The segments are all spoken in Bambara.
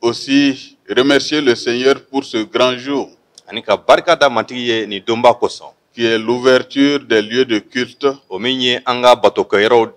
Aussi, remercier le Seigneur pour ce grand jour. Ani ka barika da Matigi ye nin donba kosɔn. Qui est l'ouverture des lieux de culte. O min ye an ka batokɛyɔrɔw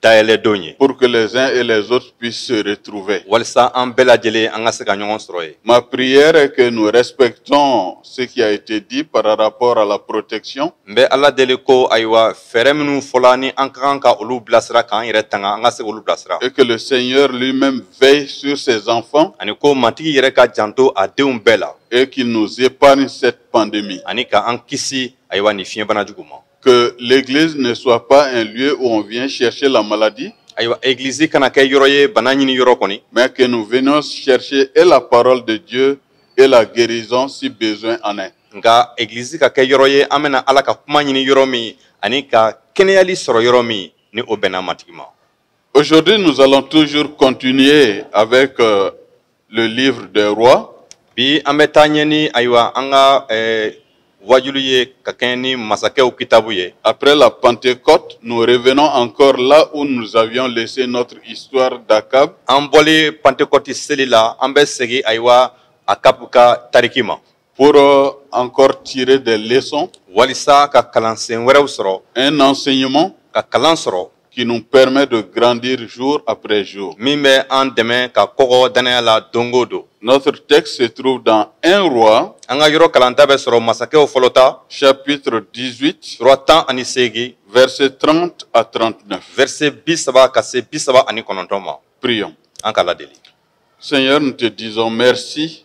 dayɛlɛ don ye. Pour que les uns et les autres puissent se retrouver. Walisa an bɛɛ lajɛlen an ka se ka ɲɔgɔn sɔrɔ yen. Ma prière est que nous respectons ce qui a été dit par rapport à la protection. N bɛ Ala deli ko ayiwa fɛɛrɛ minnu fɔla ni an ka kan ka olu bilasira k'an yɛrɛ tanga an ka se k'olu bilasira. et que le Seigneur lui-même veille sur ses enfants. ani ko Matigi yɛrɛ ka janto a denw bɛɛ la. et qu'il nous épargne cette pandémie. ani ka an kisi ayiwa nin fiɲɛbana jugu ma. que l'église ne soit pas un lieu où on vient chercher la maladie. ayiwa egilizi kana kɛ yɔrɔ ye bana ɲini yɔrɔ kɔni. mais que nous venions chercher et la parole de Dieu et la guérison si besoin en est. nka egilizi ka kɛ yɔrɔ ye an bɛna ala ka kuma ɲini yɔrɔ min ani ka kɛnɛyali sɔrɔ yɔrɔ min ni o bɛnna matigi ma Aujourd'hui, nous allons toujours continuer avec euh, le livre des rois. Bi an bɛ taa ɲɛ ni ayiwa an ka eh, waajuli ye ka kɛɲɛ ni masakɛw kitabu ye. Après la Pentecôte, nous revenons encore là où nous avions laissé notre histoire d'Achab. An bɔlen Pentecôte seli la, an bɛ segin ayiwa Akab ka tariki ma. Pour euh, encore tirer des leçons. Walisa ka kalansen wɛrɛw sɔrɔ. Un enseignement. Ka kalan sɔrɔ. Qui nous permet de grandir jour après jour. Min bɛ an dɛmɛ ka kɔgɔ dannaya la don o don. Notre texte se trouve dans 1 Rois. An ka yɔrɔ kalanta bɛ sɔrɔ masakɛw fɔlɔ ta. Chapitre 18. Sura tan ani seegin. Verset 30 à 39. Verset bi saba ka se bi saba ani kɔnɔntɔn ma. Prions. An ka Ala deli. Seigneur, nous te disons merci.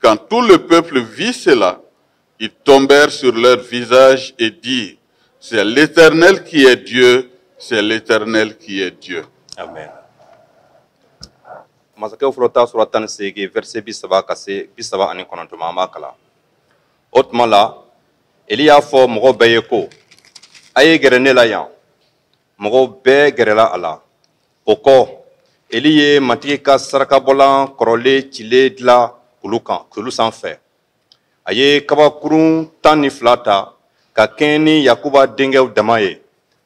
Quand tout le peuple vit cela, ils tombèrent sur leur visage et dirent, c'est l'Éternel qui est Dieu, c'est l'Éternel qui est Dieu. Amen. masakɛw fɔlɔ ta sura tan ni seegin verset bi saba ka se bi saba ani kɔnɔntɔn ma an b'a kalan o tuma la eli y'a fɔ mɔgɔ bɛɛ ye ko a ye gɛrɛ ne la yan mɔgɔw bɛɛ gɛrɛla a la o kɔ eli ye matigi ka sarakabɔlan kɔrɔlen cilen dila kulu kan kulu sanfɛ a ye kabakurun tan ni fila ta ka kɛɲɛ ni yakuba denkɛw dama ye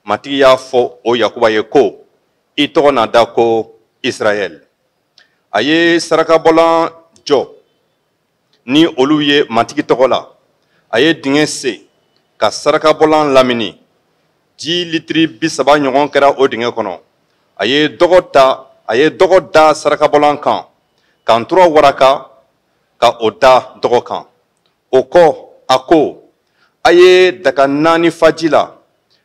matigi y'a fɔ o yakuba ye ko i tɔgɔ na da ko israɛl a ye sarakabɔlan jɔ ni olu ye matigi tɔgɔ la a ye dingɛ sen ka sarakabɔlan lamini ji litiri bi saba ɲɔgɔn kɛra o dingɛ kɔnɔ a ye dɔgɔ ta a ye dɔgɔ da sarakabɔlan kan ka ntura waraka ka o da dɔgɔ kan o kɔ a ko a ye daga naani fa ji la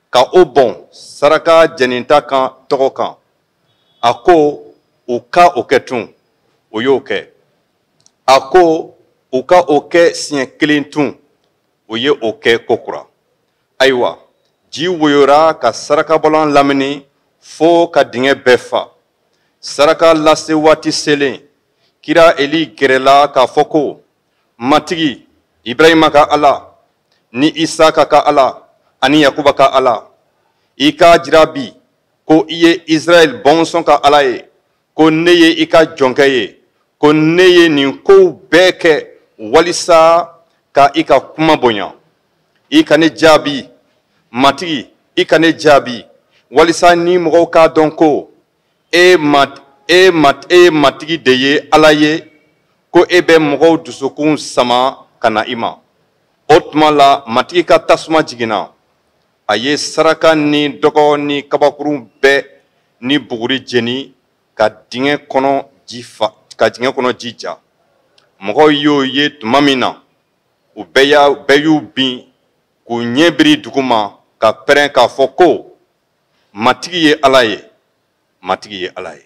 ka o bɔn saraka jɛninta kan dɔgɔ kan a ko u ka o kɛ tun u y'o kɛ a ko u ka o kɛ siɲɛ kelen tun u ye o kɛ kokura ayiwa ji woyora ka sarakabɔlan lamini fo ka dingɛ bɛɛ fa saraka lase waati selen kira eli gɛrɛla k'a fɔ ko matigi ibrahima ka ala ni isaka ka ala ani yakuba ka ala i k'a jira bi ko i ye israɛl bɔnsɔn ka ala ye ko ne ye i ka jɔnkɛ ye ko ne ye nin kow bɛɛ kɛ walisa ka i ka kuma bonya i ka ne jaabi matigi i ka ne jaabi walisa nin mɔgɔw k'a dɔn ko e ma e ma e ye matigi de ye ala ye ko e bɛ mɔgɔw dusukun sama ka na i ma o tuma la matigi ka tasuma jiginna a ye saraka ni dɔgɔ ni kabakurun bɛɛ ni buguri jeni ka dingɛ kɔnɔ ji fa ka dingɛ kɔnɔ ji ja mɔgɔw y'o ye tuma min na u bɛɛ y'a bɛɛ y'u bin k'u ɲɛ biri duguma ka pɛrɛn k'a fɔ ko matigi ye ala ye matigi ye ala ye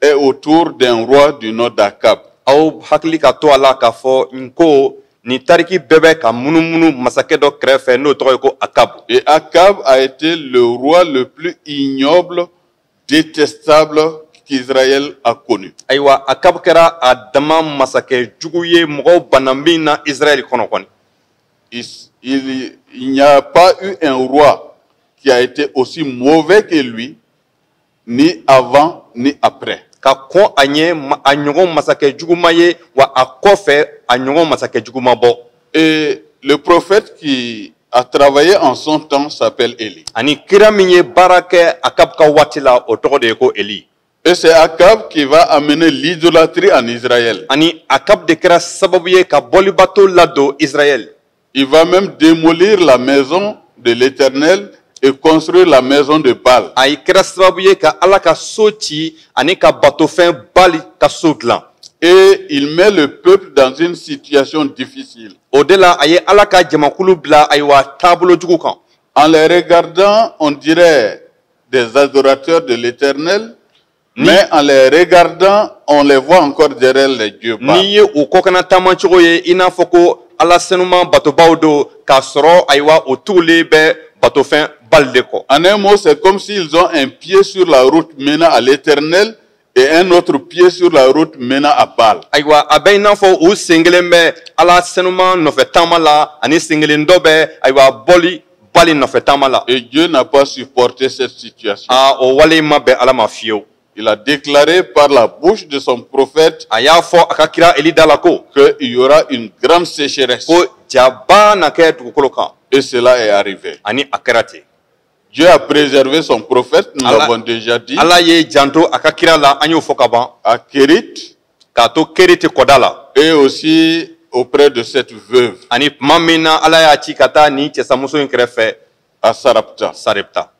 est autour d'un roi du nom d'Akab. Aw hakili ka to a la k'a fɔ n ko nin tariki bɛɛ bɛ ka munumunu masakɛ dɔ kɛrɛfɛ n'o tɔgɔ ye ko Akab. Et Akab a été le roi le plus ignoble, détestable qu'Israël a connu. Ayiwa Akab kɛra a dama masakɛ jugu ye mɔgɔw banna min na Israël kɔnɔ kɔni. Il, il, il n'y a pas eu un roi qui a été aussi mauvais que lui ni avant ni après ka kɔn a ɲɛ a ɲɔgɔn masakɛ jugu ma ye wa a kɔfɛ a ɲɔgɔn masakɛ jugu ma bɔ et le prophète qui a travaillé en son temps s'appelle Élie ani kira min ye baara kɛ Akab ka waati la o tɔgɔ de ye ko Élie et c'est Akab qui va amener l'idolâtrie en Israël ani Akab de kɛra sababu ye ka bolibato ladon Israël Il va même démolir la maison de l'Éternel et construire la maison de Baal. A yɛrɛ kɛra sababu ye ka Ala ka so ci ani ka batofɛn Baali ka so dilan. Et il met le peuple dans une situation difficile. O de la a ye Ala ka jamakulu bila ayiwa taabolo jugu kan. En les regardant, on dirait des adorateurs de l'Éternel, Mais en les regardant, on les voit encore derrière les dieux Baal. n'i ye u kɔkanna taama cogo ye i n'a fɔ ko ala senuma batobaw don k'a sɔrɔ ayiwa u tugulen bɛ batofɛn bali de kɔ En un mot, c'est comme s'ils ont un pied sur la route menant à l'éternel et un autre pied sur la route menant à Baal. ayiwa a bɛ i n'a fɔ u sen kelen bɛ ala senuma nɔfɛ taama la ani sen kelen dɔ bɛ ayiwa boli bali nɔfɛ taama la. Et Dieu n'a pas supporté cette situation. Aa o wale in ma bɛn Ala ma fiyewu. Il a déclaré par la bouche de son prophète. A y'a fɔ a ka kira Eli da la ko. Que il y aura une grande sécheresse. Ko jaba na kɛ dugukolo kan. Et cela est arrivé. Ani a kɛra ten. Dieu a préservé son prophète, nous l'avons déjà dit. Ala y'i janto a ka kira la, an y'o fɔ ka ban. À Kérith. k'a to Keriti kɔda la et aussi auprès de cette veuve ani tuma min na ala y'a ci ka taa nin cɛsamuso in kɛrɛfɛ à Sarepta. sarepta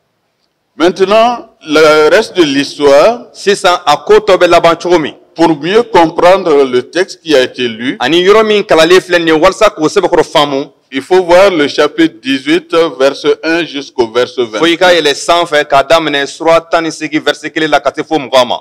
Maintenant, le reste de l'histoire, sisan a ko tɔ bɛ laban cogo min pour mieux comprendre le texte qui a été lu, ani yɔrɔ min kalalen filɛ nin ye walasa k'o sɛbɛkɔrɔ faamu il faut voir le chapitre 18, verset 1 jusqu'au verset 20. fo i ka yɛlɛ sanfɛ k'a daminɛ sura tan ni seegin vɛrise kelen la ka se fo mugan ma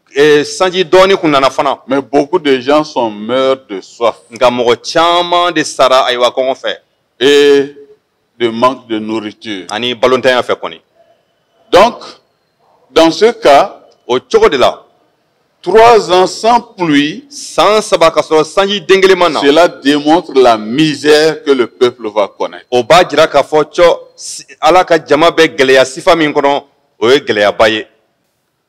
Eh, sanji dɔɔni kun nana fana. Mais beaucoup de gens sont morts de soif. Nka mɔgɔ caman de sara ayiwa kɔngɔ fɛ. Et de manque de nourriture. Ani balontanya fɛ kɔni. Donc, dans ce cas. O cogo de la. Trois ans sans pluie. San saba ka sɔrɔ sanji den kelen ma na. Cela démontre la misère que le peuple va connaître. O b'a jira k'a fɔ cɔ Ala ka jama bɛ gɛlɛya sifa min kɔnɔ o ye gɛlɛyaba ye.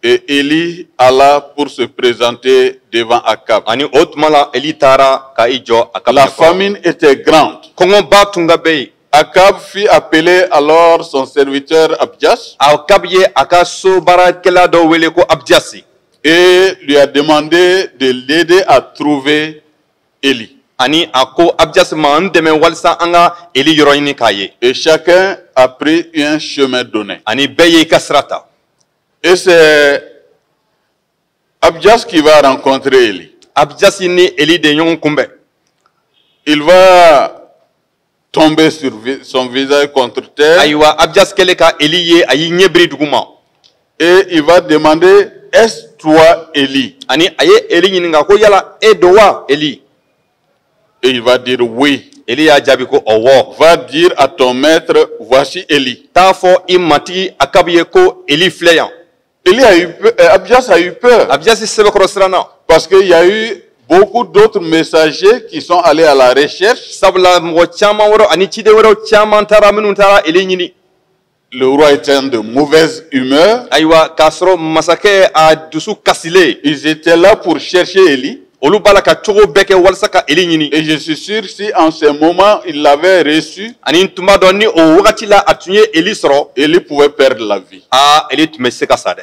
Et Élie alla pour se présenter devant Akab. Ani o tuma la Eli taara ka i jɔ Akab ɲɛkɔrɔ. La famine était grande. Kɔngɔba tun ka bɛ yen. Akab fit appeler alors son serviteur Abdias Akab ye a ka so baarakɛla dɔ wele ko Abdiasi et lui a demandé de l'aider à trouver Élie. ani a ko Abdiasi ma n dɛmɛ walisa an ka Eli yɔrɔ ɲini k'a ye. Et chacun a pris un chemin donné. Ani bɛɛ y'i ka sira ta. Et c'est Abdias qui va rencontrer Élie. Abdias ni Eli de ɲɔgɔn kunbɛn. Il va tomber sur son visage contre terre. Ayiwa Abdias kɛlen ka Eli ye a y'i ɲɛ biri duguma. Et il va demander est-ce toi Élie? Ani a ye Eli ɲininka ko yala e don wa Eli? Et il va dire oui. Eli y'a jaabi ko ɔwɔ. Va dire à ton maître, voici Élie. T'a fɔ i matigi Akabu ye ko Eli filɛ yan. Élie a eu peur, euh, Abdias a eu peur. Abdias sɛbɛkɔrɔ siranna. Parce qu'il y a eu beaucoup d'autres messagers qui sont allés à la recherche. Sabula mɔgɔ caman wɛrɛw ani ciden wɛrɛw caman taara minnu taara Eli ɲini. Le roi était de mauvaise humeur. Ayiwa, k'a sɔrɔ masakɛ a dusu kasilen. Ils étaient là pour chercher Élie. olu b'a la ka cogo bɛɛ kɛ walasa ka eli ɲini et je suis sûr si en ce moment il l'avait reçu ani tun b'a dɔn ni o wagati la a tun ye eli sɔrɔ eli pouvait perdre la vie aa eli tun bɛ se ka sa dɛ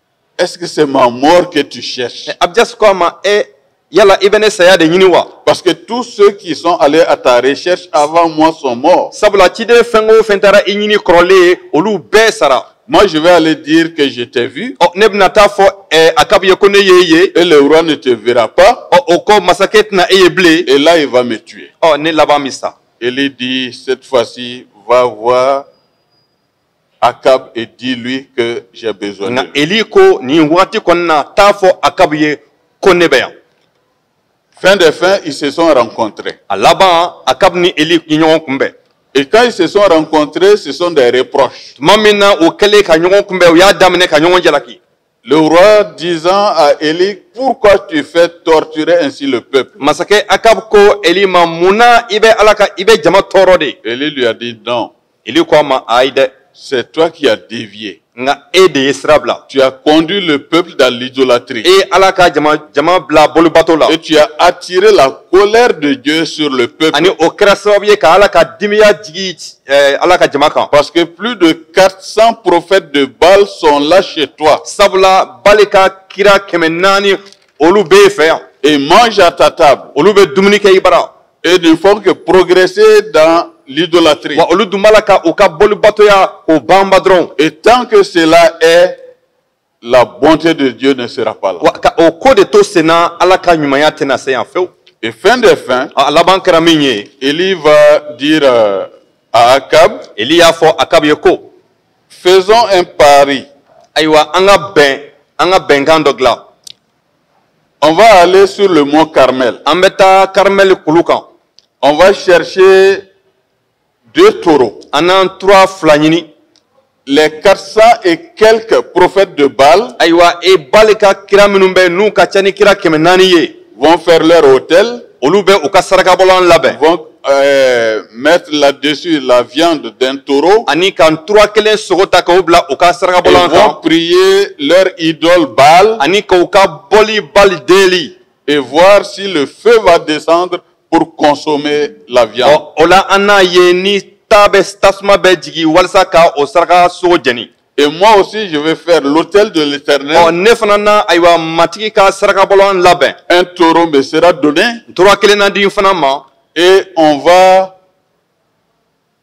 Est-ce que c'est ma mort que tu cherches eh, Abdias ko a ma e eh, yala i bɛ ne saya de ɲini wa Parce que tous ceux qui sont allés à ta recherche avant moi sont morts. sabula ciden fɛn o fɛn taara i ɲini kɔrɔlen olu bɛɛ sara Moi, je vais aller dire que je t'ai vu ɔ ne bɛna t'a fɔ eh, Akab ye ko ne y'e ye et le roi ne te verra pas. ɔ o kɔ masakɛ tɛna e ye bilen Et là, il va me tuer. ɔ ne laban bɛ sa Élie dit, cette fois-ci, va voir Akab et dis-lui que j'ai besoin de lui. Eli ko nin wagati kɔni na t'a fɔ Akab ye ko ne bɛ yan. Fin de fin, ils se sont rencontrés. A laban Akab ni Eli ye ɲɔgɔn kunbɛn. Et quand ils se sont rencontrés, ce sont des reproches. Tuma min na u kɛlen ka ɲɔgɔn kunbɛn, u y'a daminɛ ka ɲɔgɔn jalaki. Le roi disant à Élie, pourquoi tu fais torturer ainsi le peuple Masakɛ Akab ko Eli ma mun na i bɛ Ala ka i bɛ jama tɔɔrɔ de. Eli lui a dit non. Eli ko a ma ayi dɛ. C'est toi qui as dévié. Nka e de ye sira bila. Tu as conduit le peuple dans l'idolâtrie. I ye Ala ka jama jama bila boli bato la. Et tu as attiré la colère de Dieu sur le peuple. Ani o kɛra sababu ye ka Ala ka dimiya jigin eh, Ala ka jama kan. Parce que plus de 400 prophètes de Baal sont là chez toi. Sabula Baal ka kira kɛmɛ naani olu b'e fɛ yan. Et mangent à ta table. Olu bɛ dumuni kɛ i bara. Et ne font que progresser dans l'idolâtrie. Wa olu dun b'a la ka u ka bolibatoya k'o banba dɔrɔn. Et tant que cela est la bonté de Dieu ne sera pas là. O ko de to senna Ala ka ɲumanya tɛna se yan fewu. Et fin des fins, a laban kɛra min ye, Eli va dire euh, à Akab, Eli y'a fɔ Akab ye ko, faisons un pari. Ayiwa an ka bɛn an ka bɛnkan dɔ dilan. On va aller sur le mont Carmel. An bɛ taa Carmel kulu kan. On va chercher deux taureaux an na ntura fila ɲini les 400 et quelques prophètes de Baal ayiwa e Baal ka kira minnu bɛ n'u ka ca ni kira kɛmɛ naani ye vont faire leur autel olu bɛ u ka sarakabɔlan labɛn vont euh, mettre là-dessus la viande d'un taureau ani ka ntura kelen sogo ta k'o bila u ka sarakabɔlan kan vont prier leur idole Baal ani k'u ka boli Baal deli et voir si le feu va descendre pour consommer la viande. O la an n'a ye ni ta bɛ tasuma bɛ jigin walasa ka o saraka sogo jeni. Et moi aussi, je vais faire l'autel de l'Éternel. Oh, ne fana na ayiwa matigi ka sarakabɔlan labɛn. Un taureau me sera donné. Tura kelen na di n fana ma. Et on va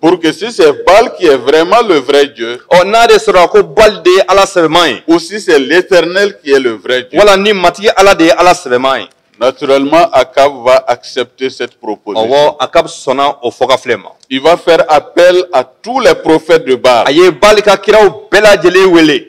Pour que si c'est Baal qui est vraiment le vrai Dieu, ɔ n'a de sɔrɔ ko baali de ye ala sɛbɛman ye ou si c'est l'Éternel qui est le vrai Dieu, wala ni matigi ala de ye ala sɛbɛman ye naturellement Achab va accepter cette proposition. ɔwɔ akabu sɔnna o fɔkafilɛ ma Il va faire appel à tous les prophètes de Baal. a ye baali ka kiraw bɛɛ lajɛlen wele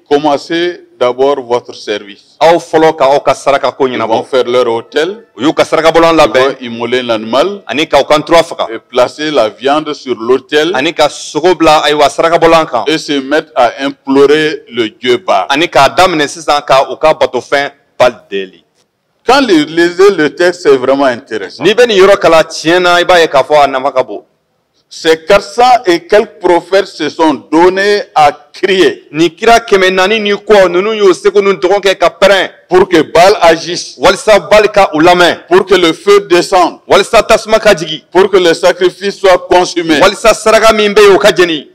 Commencez d'abord votre service. Aw fɔlɔ ka aw ka saraka ko ɲɛnabɔ. Ils vont faire leur autel. U y'u ka sarakabɔlan labɛn. Ils vont immoler l'animal. Ani ka u ka ntura faga. Et placer la viande sur l'autel. Ani ka sogo bila ayiwa sarakabɔlan kan. Et se mettre à implorer le dieu Baal. Ani k'a daminɛ sisan ka u ka batofɛn Baal deli. Quand vous lisez le texte, c'est vraiment intéressant. N'i bɛ nin yɔrɔ kalan tiɲɛ na i b'a ye k'a fɔ a nafa ka bon. Ces 400 et quelques prophètes se sont donnés à crier Nin kira kɛmɛ naani ni kɔ ninnu y'u seko n'u dɔnko kɛ ka pɛrɛn pour que Baal agisse, walisa Baali ka u lamɛn pour que le feu descende, walisa tasuma ka jigin pour que le sacrifice soit consumé. walisa saraka min bɛ yen o ka jeni.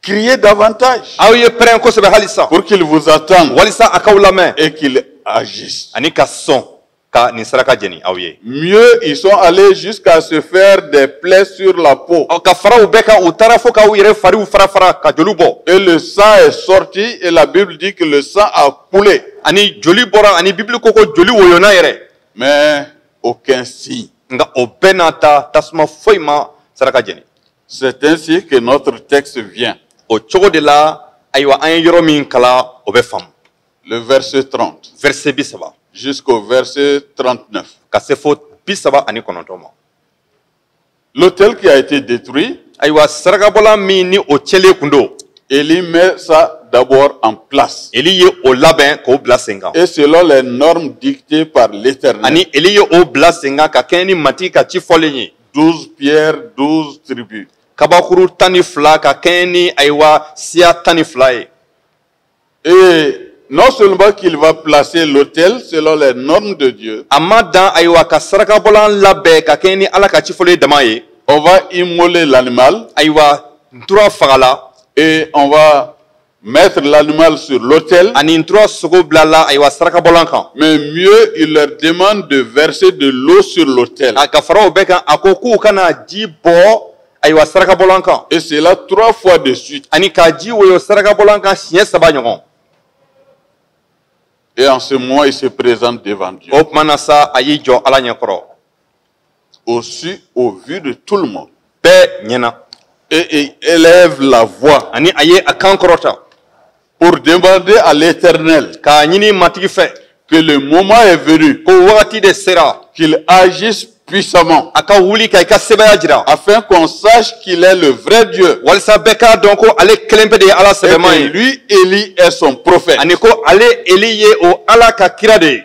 Criez davantage. Aw ye pɛrɛn kosɛbɛ hali sisan. Pour qu'il vous entende. Walisa a k'aw lamɛn. Et qu'il agisse. Ani ka sɔn ka nin saraka jeni aw ye. Mieux ils sont allés jusqu'à se faire des plaies sur la peau. Ɔ ka fara o bɛɛ kan u taara fo ka u yɛrɛ fariw fara fara ka joli bɔ. Et le sang est sorti et la Bible dit que le sang a coulé. Ani joli bɔra ani Bible ko ko joli woyonna yɛrɛ. Mais aucun signe. Nka o bɛɛ n'a ta tasuma foyi ma saraka jeni. C'est ainsi que notre texte vient. O cogo de la, ayiwa an ye yɔrɔ min kalan o bɛ faamu. Le verset 30. Verset bi saba. Jusqu'au verset 39. Ka se fo bi saba ani kɔnɔntɔn ma. L'autel qui a été détruit. Ayiwa sarakabɔlan min ni o cɛlen kun don. Élie met ça d'abord en place. Eli ye o labɛn k'o bila sen kan. Et selon les normes dictées par l'Éternel. Ani Eli ye o bila sen kan ka kɛɲɛ ni Matigi ka ci fɔlen ye. 12 pierres, 12 tribus. Kabakuru tan ni fila ka kɛɲɛ ni ayiwa siya tan ni fila ye. Et non seulement qu'il va placer l'autel selon les normes de Dieu. A ma dan ayiwa ka sarakabɔlan labɛn ka kɛɲɛ ni Ala ka cifɔlen ye dama ye. On va immoler l'animal. Ayiwa ntura fagala. Et on va Mettre l'animal sur l'autel. Ani ntura sogo bilala ayiwa sarakabɔlan kan. Mais mieux il leur demande de verser de l'eau sur l'autel. A ka fara o bɛɛ kan a ko k'u ka na ji bɔn ayiwa sarakabɔlan kan. Et cela trois fois de suite. Ani ka ji woyo sarakabɔlan kan siɲɛ saba ɲɔgɔn. Et en ce moment il se présente devant Dieu. O tuma na sa a y'i jɔ Ala ɲɛ kɔrɔ. au su au vu de tout le monde bɛɛ ɲɛna et il élève la voix ani a ye a kan kɔrɔta pour demander à l'éternel k'a ɲini matigi fɛ que le moment est venu ko wagati de sera qu'il agisse puissamment a ka wuli ka i ka sebaya jira afin qu'on sache qu'il est le vrai Dieu walisa bɛɛ k'a dɔn ko ale kelen pe de ye ala sɛbɛman ye et que lui Élie est son prophète ani ko ale eli ye o ala ka kira de ye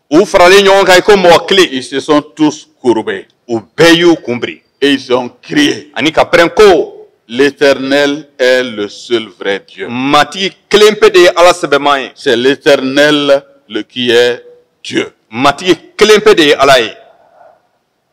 U faralen ɲɔgɔn kan i ko mɔgɔ kelen. Ils se sont tous courbés. U bɛɛ y'u kun biri. Et ils ont crié. Ani ka pɛrɛn ko. L'Éternel est le seul vrai Dieu. Matigi kelen pe de ye Ala sɛbɛman ye. C'est l'Éternel le qui est Dieu. Matigi kelen pe de ye Ala ye.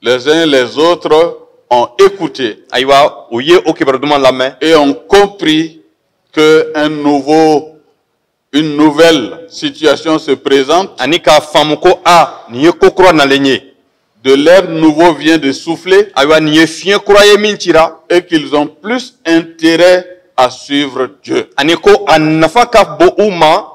Les uns et les autres ont écouté. Ayiwa, u ye o kibaru duman lamɛn. Et ont compris que un nouveau une nouvelle situation se présente. Ani k'a faamu ko a nin ye ko kura nalen ye. De l'air nouveau vient de souffler. Ayiwa nin ye fiɲɛ kura ye min cira. Et qu'ils ont plus intérêt à suivre Dieu. Ani ko a nafa ka bon u ma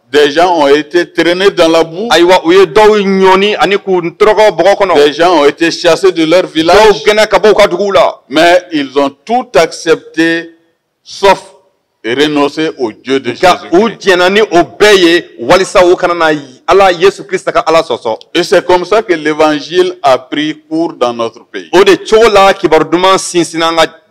Des gens ont été traînés dans la boue. Ayiwa u ye dɔw ɲɔni ani k'u tɔrɔgɔ bɔgɔ kɔnɔ. Des gens ont été chassés de leur village. Dɔw gɛnna ka bɔ u ka duguw la. Mais ils ont tout accepté sauf renoncer au Dieu de Jésus. Nka u jɛnna ni o bɛɛ ye walisa u kana na Ala Yesu Krista ka Ala sɔsɔ. Et c'est comme ça que l'évangile a pris cours dans notre pays. O de cogo la kibaru duman sinsinna an ka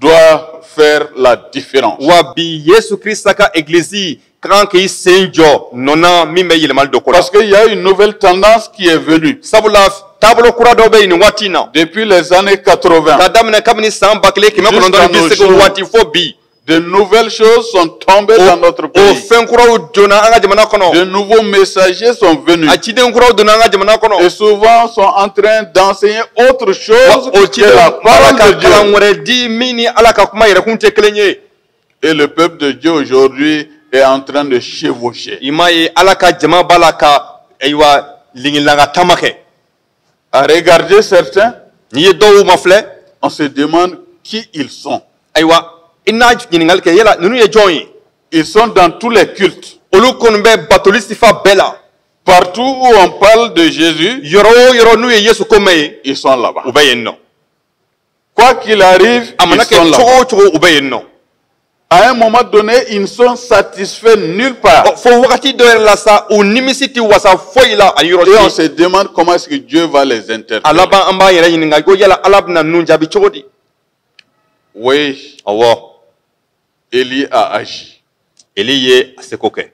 doit faire la différence. Wa bi Yesu Krista ka egilizi ka kan k'i sen jɔ nɔ na min bɛ yɛlɛmali don ko la Parce qu'il y a une nouvelle tendance qui est venue. Sabula taabolo kura dɔ bɛ yen nin waati in na. Depuis les années 80. Ka daminɛ kabini san ba kelen kɛmɛ kɔnɔntɔn ni bi seegin waati fo bi. De nouvelles choses sont Tombées dans notre pays. O fɛn kuraw donna an ka jamana kɔnɔ. De nouveaux messagers sont venus. A ciden kuraw donna an ka jamana kɔnɔ. Et souvent sont en train d'enseigner autre chose. O ciden b'a la ka la parole de Dieu. Kalan wɛrɛ di min ni Ala ka kuma yɛrɛkun tɛ kelen ye. Et le peuple de Dieu aujourd'hui est en train de chevaucher. I m'a ye Ala ka jama b'a la ka ayiwa lingilanka taama kɛ. à regarder certains n'i ye dɔw mafilɛ on se demande qui ils sont ayiwa i na ɲininkali kɛ yala ninnu ye jɔn ye ils sont dans tous les cultes olu kɔni bɛ batoli sifa bɛɛ la partout où on parle de Jésus yɔrɔ o yɔrɔ n'u ye Yesu ko mɛn yen ils sont là-bas u bɛ yen nɔ Quoi qu'il arrive, ils sont là. a mana kɛ cogo o cogo u bɛ yen nɔ À un moment donné, ils ne sont satisfaits nulle part. Ɔ, fo wagati dɔ yɛrɛ la sa u nimisi tɛ wasa foyi la a yɔrɔ si Et on se demande comment est-ce que Dieu va les interpeller. a laban an b'an yɛrɛ ɲininka ko yala ala bɛna ninnu jaabi cogo di Oui, awɔ Élie a agi. Élie ye a seko kɛ.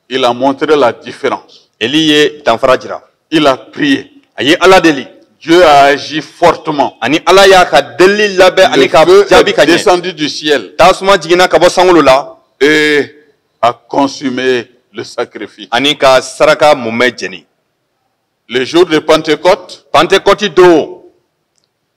Il a montré la différence. Élie ye danfara jira. Il a prié. A ye Ala deli. Dieu a agi fortement. Ani Ala y'a ka delili lamɛn ani k'a jaabi ka ɲɛ. Le feu est descendu du ciel. Tasuma jiginna ka bɔ sankolo la. Et a consumé le sacrifice. Ani ka saraka mumɛ jeni. Le jour de Pentecôte. Pentecôte don.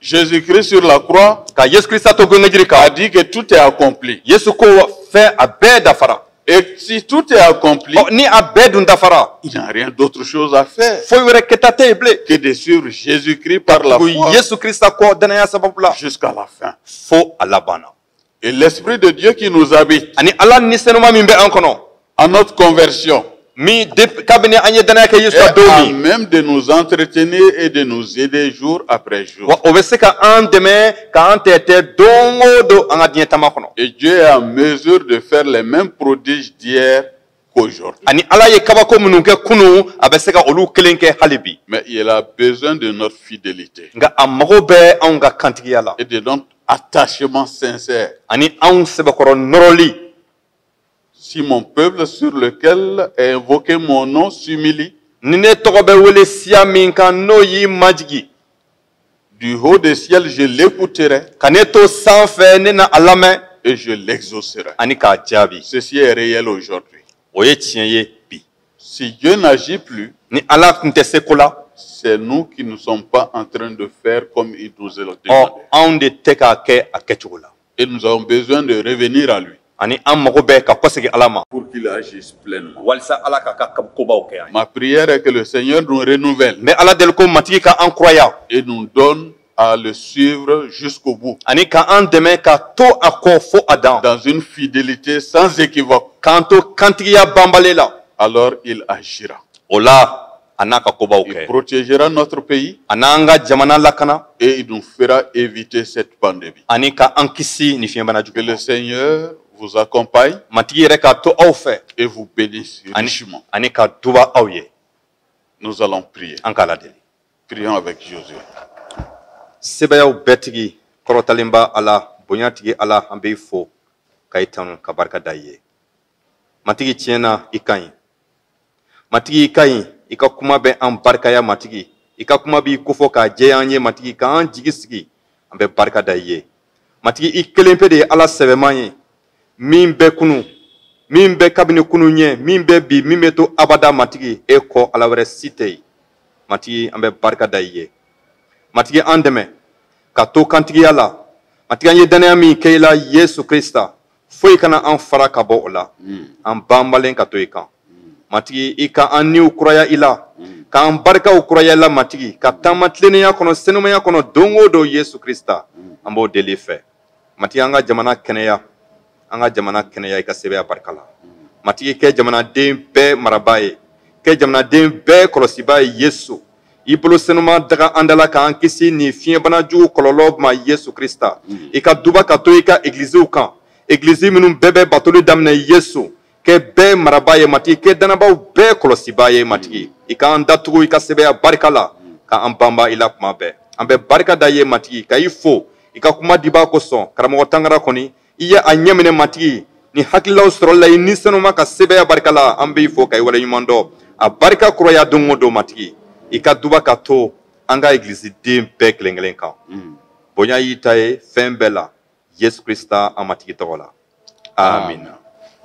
Jésus-Christ sur la croix ka yesu krista to gengenjiri kan a dit que tout est accompli. yesu ko wa- fɛn a bɛɛ dafara Et si tout est accompli, Ɔ, ni a bɛɛ dun dafara il n'y a rien d'autre chose à faire foyi wɛrɛ kɛta tɛ yen bilen que de suivre Jésus-Christ par la foi yesu krista kɔ dannaya sababu la jusqu'à la fin. fo a laban na Et l'Esprit de Dieu qui nous habite. Ani Ala ni senuma min bɛ an kɔnɔ. Dès notre conversion. Min kabini an ye dannaya kɛ Yesu la don min. Est à même de nous entretenir et de nous aider jour après jour. Wa o bɛ se ka an dɛmɛ k'an tɛɛtɛ don o don an ka diɲɛ taama kɔnɔ. Et Dieu est en mesure de faire les mêmes prodiges d'hier qu'aujourd'hui. ani ala ye kabako minnu kɛ kunu a bɛ se ka olu kelen kɛ hali bi Mais il a besoin de notre fidélité nka a mago bɛ anw ka kantigiya la et de notre attachement sincère. ani anw sɛbɛkɔrɔ nɔrɔli Si mon peuple sur lequel est invoqué mon nom s'humilie, ni ne tɔgɔ bɛ wele siya min kan n'o y'i majigi Du haut des ciels, je l'écouterai. Ka ne to sanfɛ ne na a lamɛn. Et je l'exaucerai. Ani k'a jaabi. Ceci est réel aujourd'hui. O ye tiɲɛ ye bi. Si Dieu n'agit plus. Ni Ala tun tɛ seko la. C'est nous qui ne sommes pas en train de faire comme il nous est demandé. Ɔ anw de tɛ k'a kɛ a kɛcogo la. Et nous avons besoin de revenir à lui. Ani an mago bɛ ka kɔsegin Ala ma. Pour qu'il agisse pleinement. Walisa Ala k'a ka kobaw kɛ an ma. Ma prière est que le Seigneur nous renouvelle. Ne b'Ala deli ko Matigi ka an kuraya. Et nous donne à le suivre jusqu'au bout. Ani ka an dɛmɛ ka to a kɔ fo a dan. Dans une fidélité sans équivoque. K'an to kantigiya banbali la. Alors il agira. O la a n'a ka kobaw kɛ. Il protégera notre pays. A n'an ka jamana lakana. Et il nous fera éviter cette pandémie. Ani ka an kisi nin fiɲɛbana jugu. Que le Seigneur vous accompagne. Matigi yɛrɛ ka to aw fɛ. Et vous bénisse richement. Ani ka duba aw ye. Nous allons prier. An k'Ala deli. Prions avec Josué. Sebayaw bɛɛ tigi kɔrɔtalenba Ala bonya tigi Ala an b'i fo ka i tanu ka barika da i ye. matigi tiɲɛ na i ka ɲi matigi i ka ɲi i ka kuma bɛ an barikaya matigi i ka kuma b'i kofɔ k'a jɛya an ye matigi k'an jigi sigi an bɛ barika da i ye matigi i kelen pe de ye ala sɛbɛman ye min bɛ kunu min bɛ kabini kunu ɲɛ min bɛ bi min bɛ to abada matigi e kɔ ala wɛrɛ si tɛ yen matigi an bɛ barika da i ye matigi an dɛmɛ ka to kantigiya la matigi an ye dannaya min kɛ i la yesu krista foyi kana an fara ka bɔ o la an banbalen ka to i kan matigi i ka an niw kuraya i la k'an barikaw kuraya i la matigi ka taama tilennenya kɔnɔ senumaya kɔnɔ don o don yesu krista an b'o deli i fɛ matigi an ka jamana kɛnɛya an ka jamana kɛnɛya i ka sebaaya barika la matigi kɛ jamanaden bɛɛ marabaa ye kɛ jamanaden bɛɛ kɔlɔsibaa ye yesu i bolo senuma daga an dala k'an kisi nin fiɲɛbana jugu kɔlɔlɔ ma yesu krista mm. i ka duba ka to i ka egiliziw kan egilizi minnu bɛɛ bɛ batoli daminɛ yesu kɛ bɛɛ marabaa ye matigi kɛ dannabaaw bɛɛ kɔlɔsibaa ye matigi mm. i k'an datugu i ka sebaaya barika la mm. ka an banba i la kuma bɛɛ an bɛ barika da i ye matigi ka i fo i ka kuma dibaa kosɔn karamɔgɔ tangara kɔni i ye a ɲɛminɛ matigi nin hakililaw sɔrɔli la i ni senuma ka sebaaya barika la an b'i fo ka i waleɲuman dɔn a barika kuraya don o don matigi i ka duba ka to an ka egilisiden bɛɛ kelen kelen kan mm. bonya y'i ta ye fɛn bɛɛ la yesu krista an matigi tɔgɔ la amina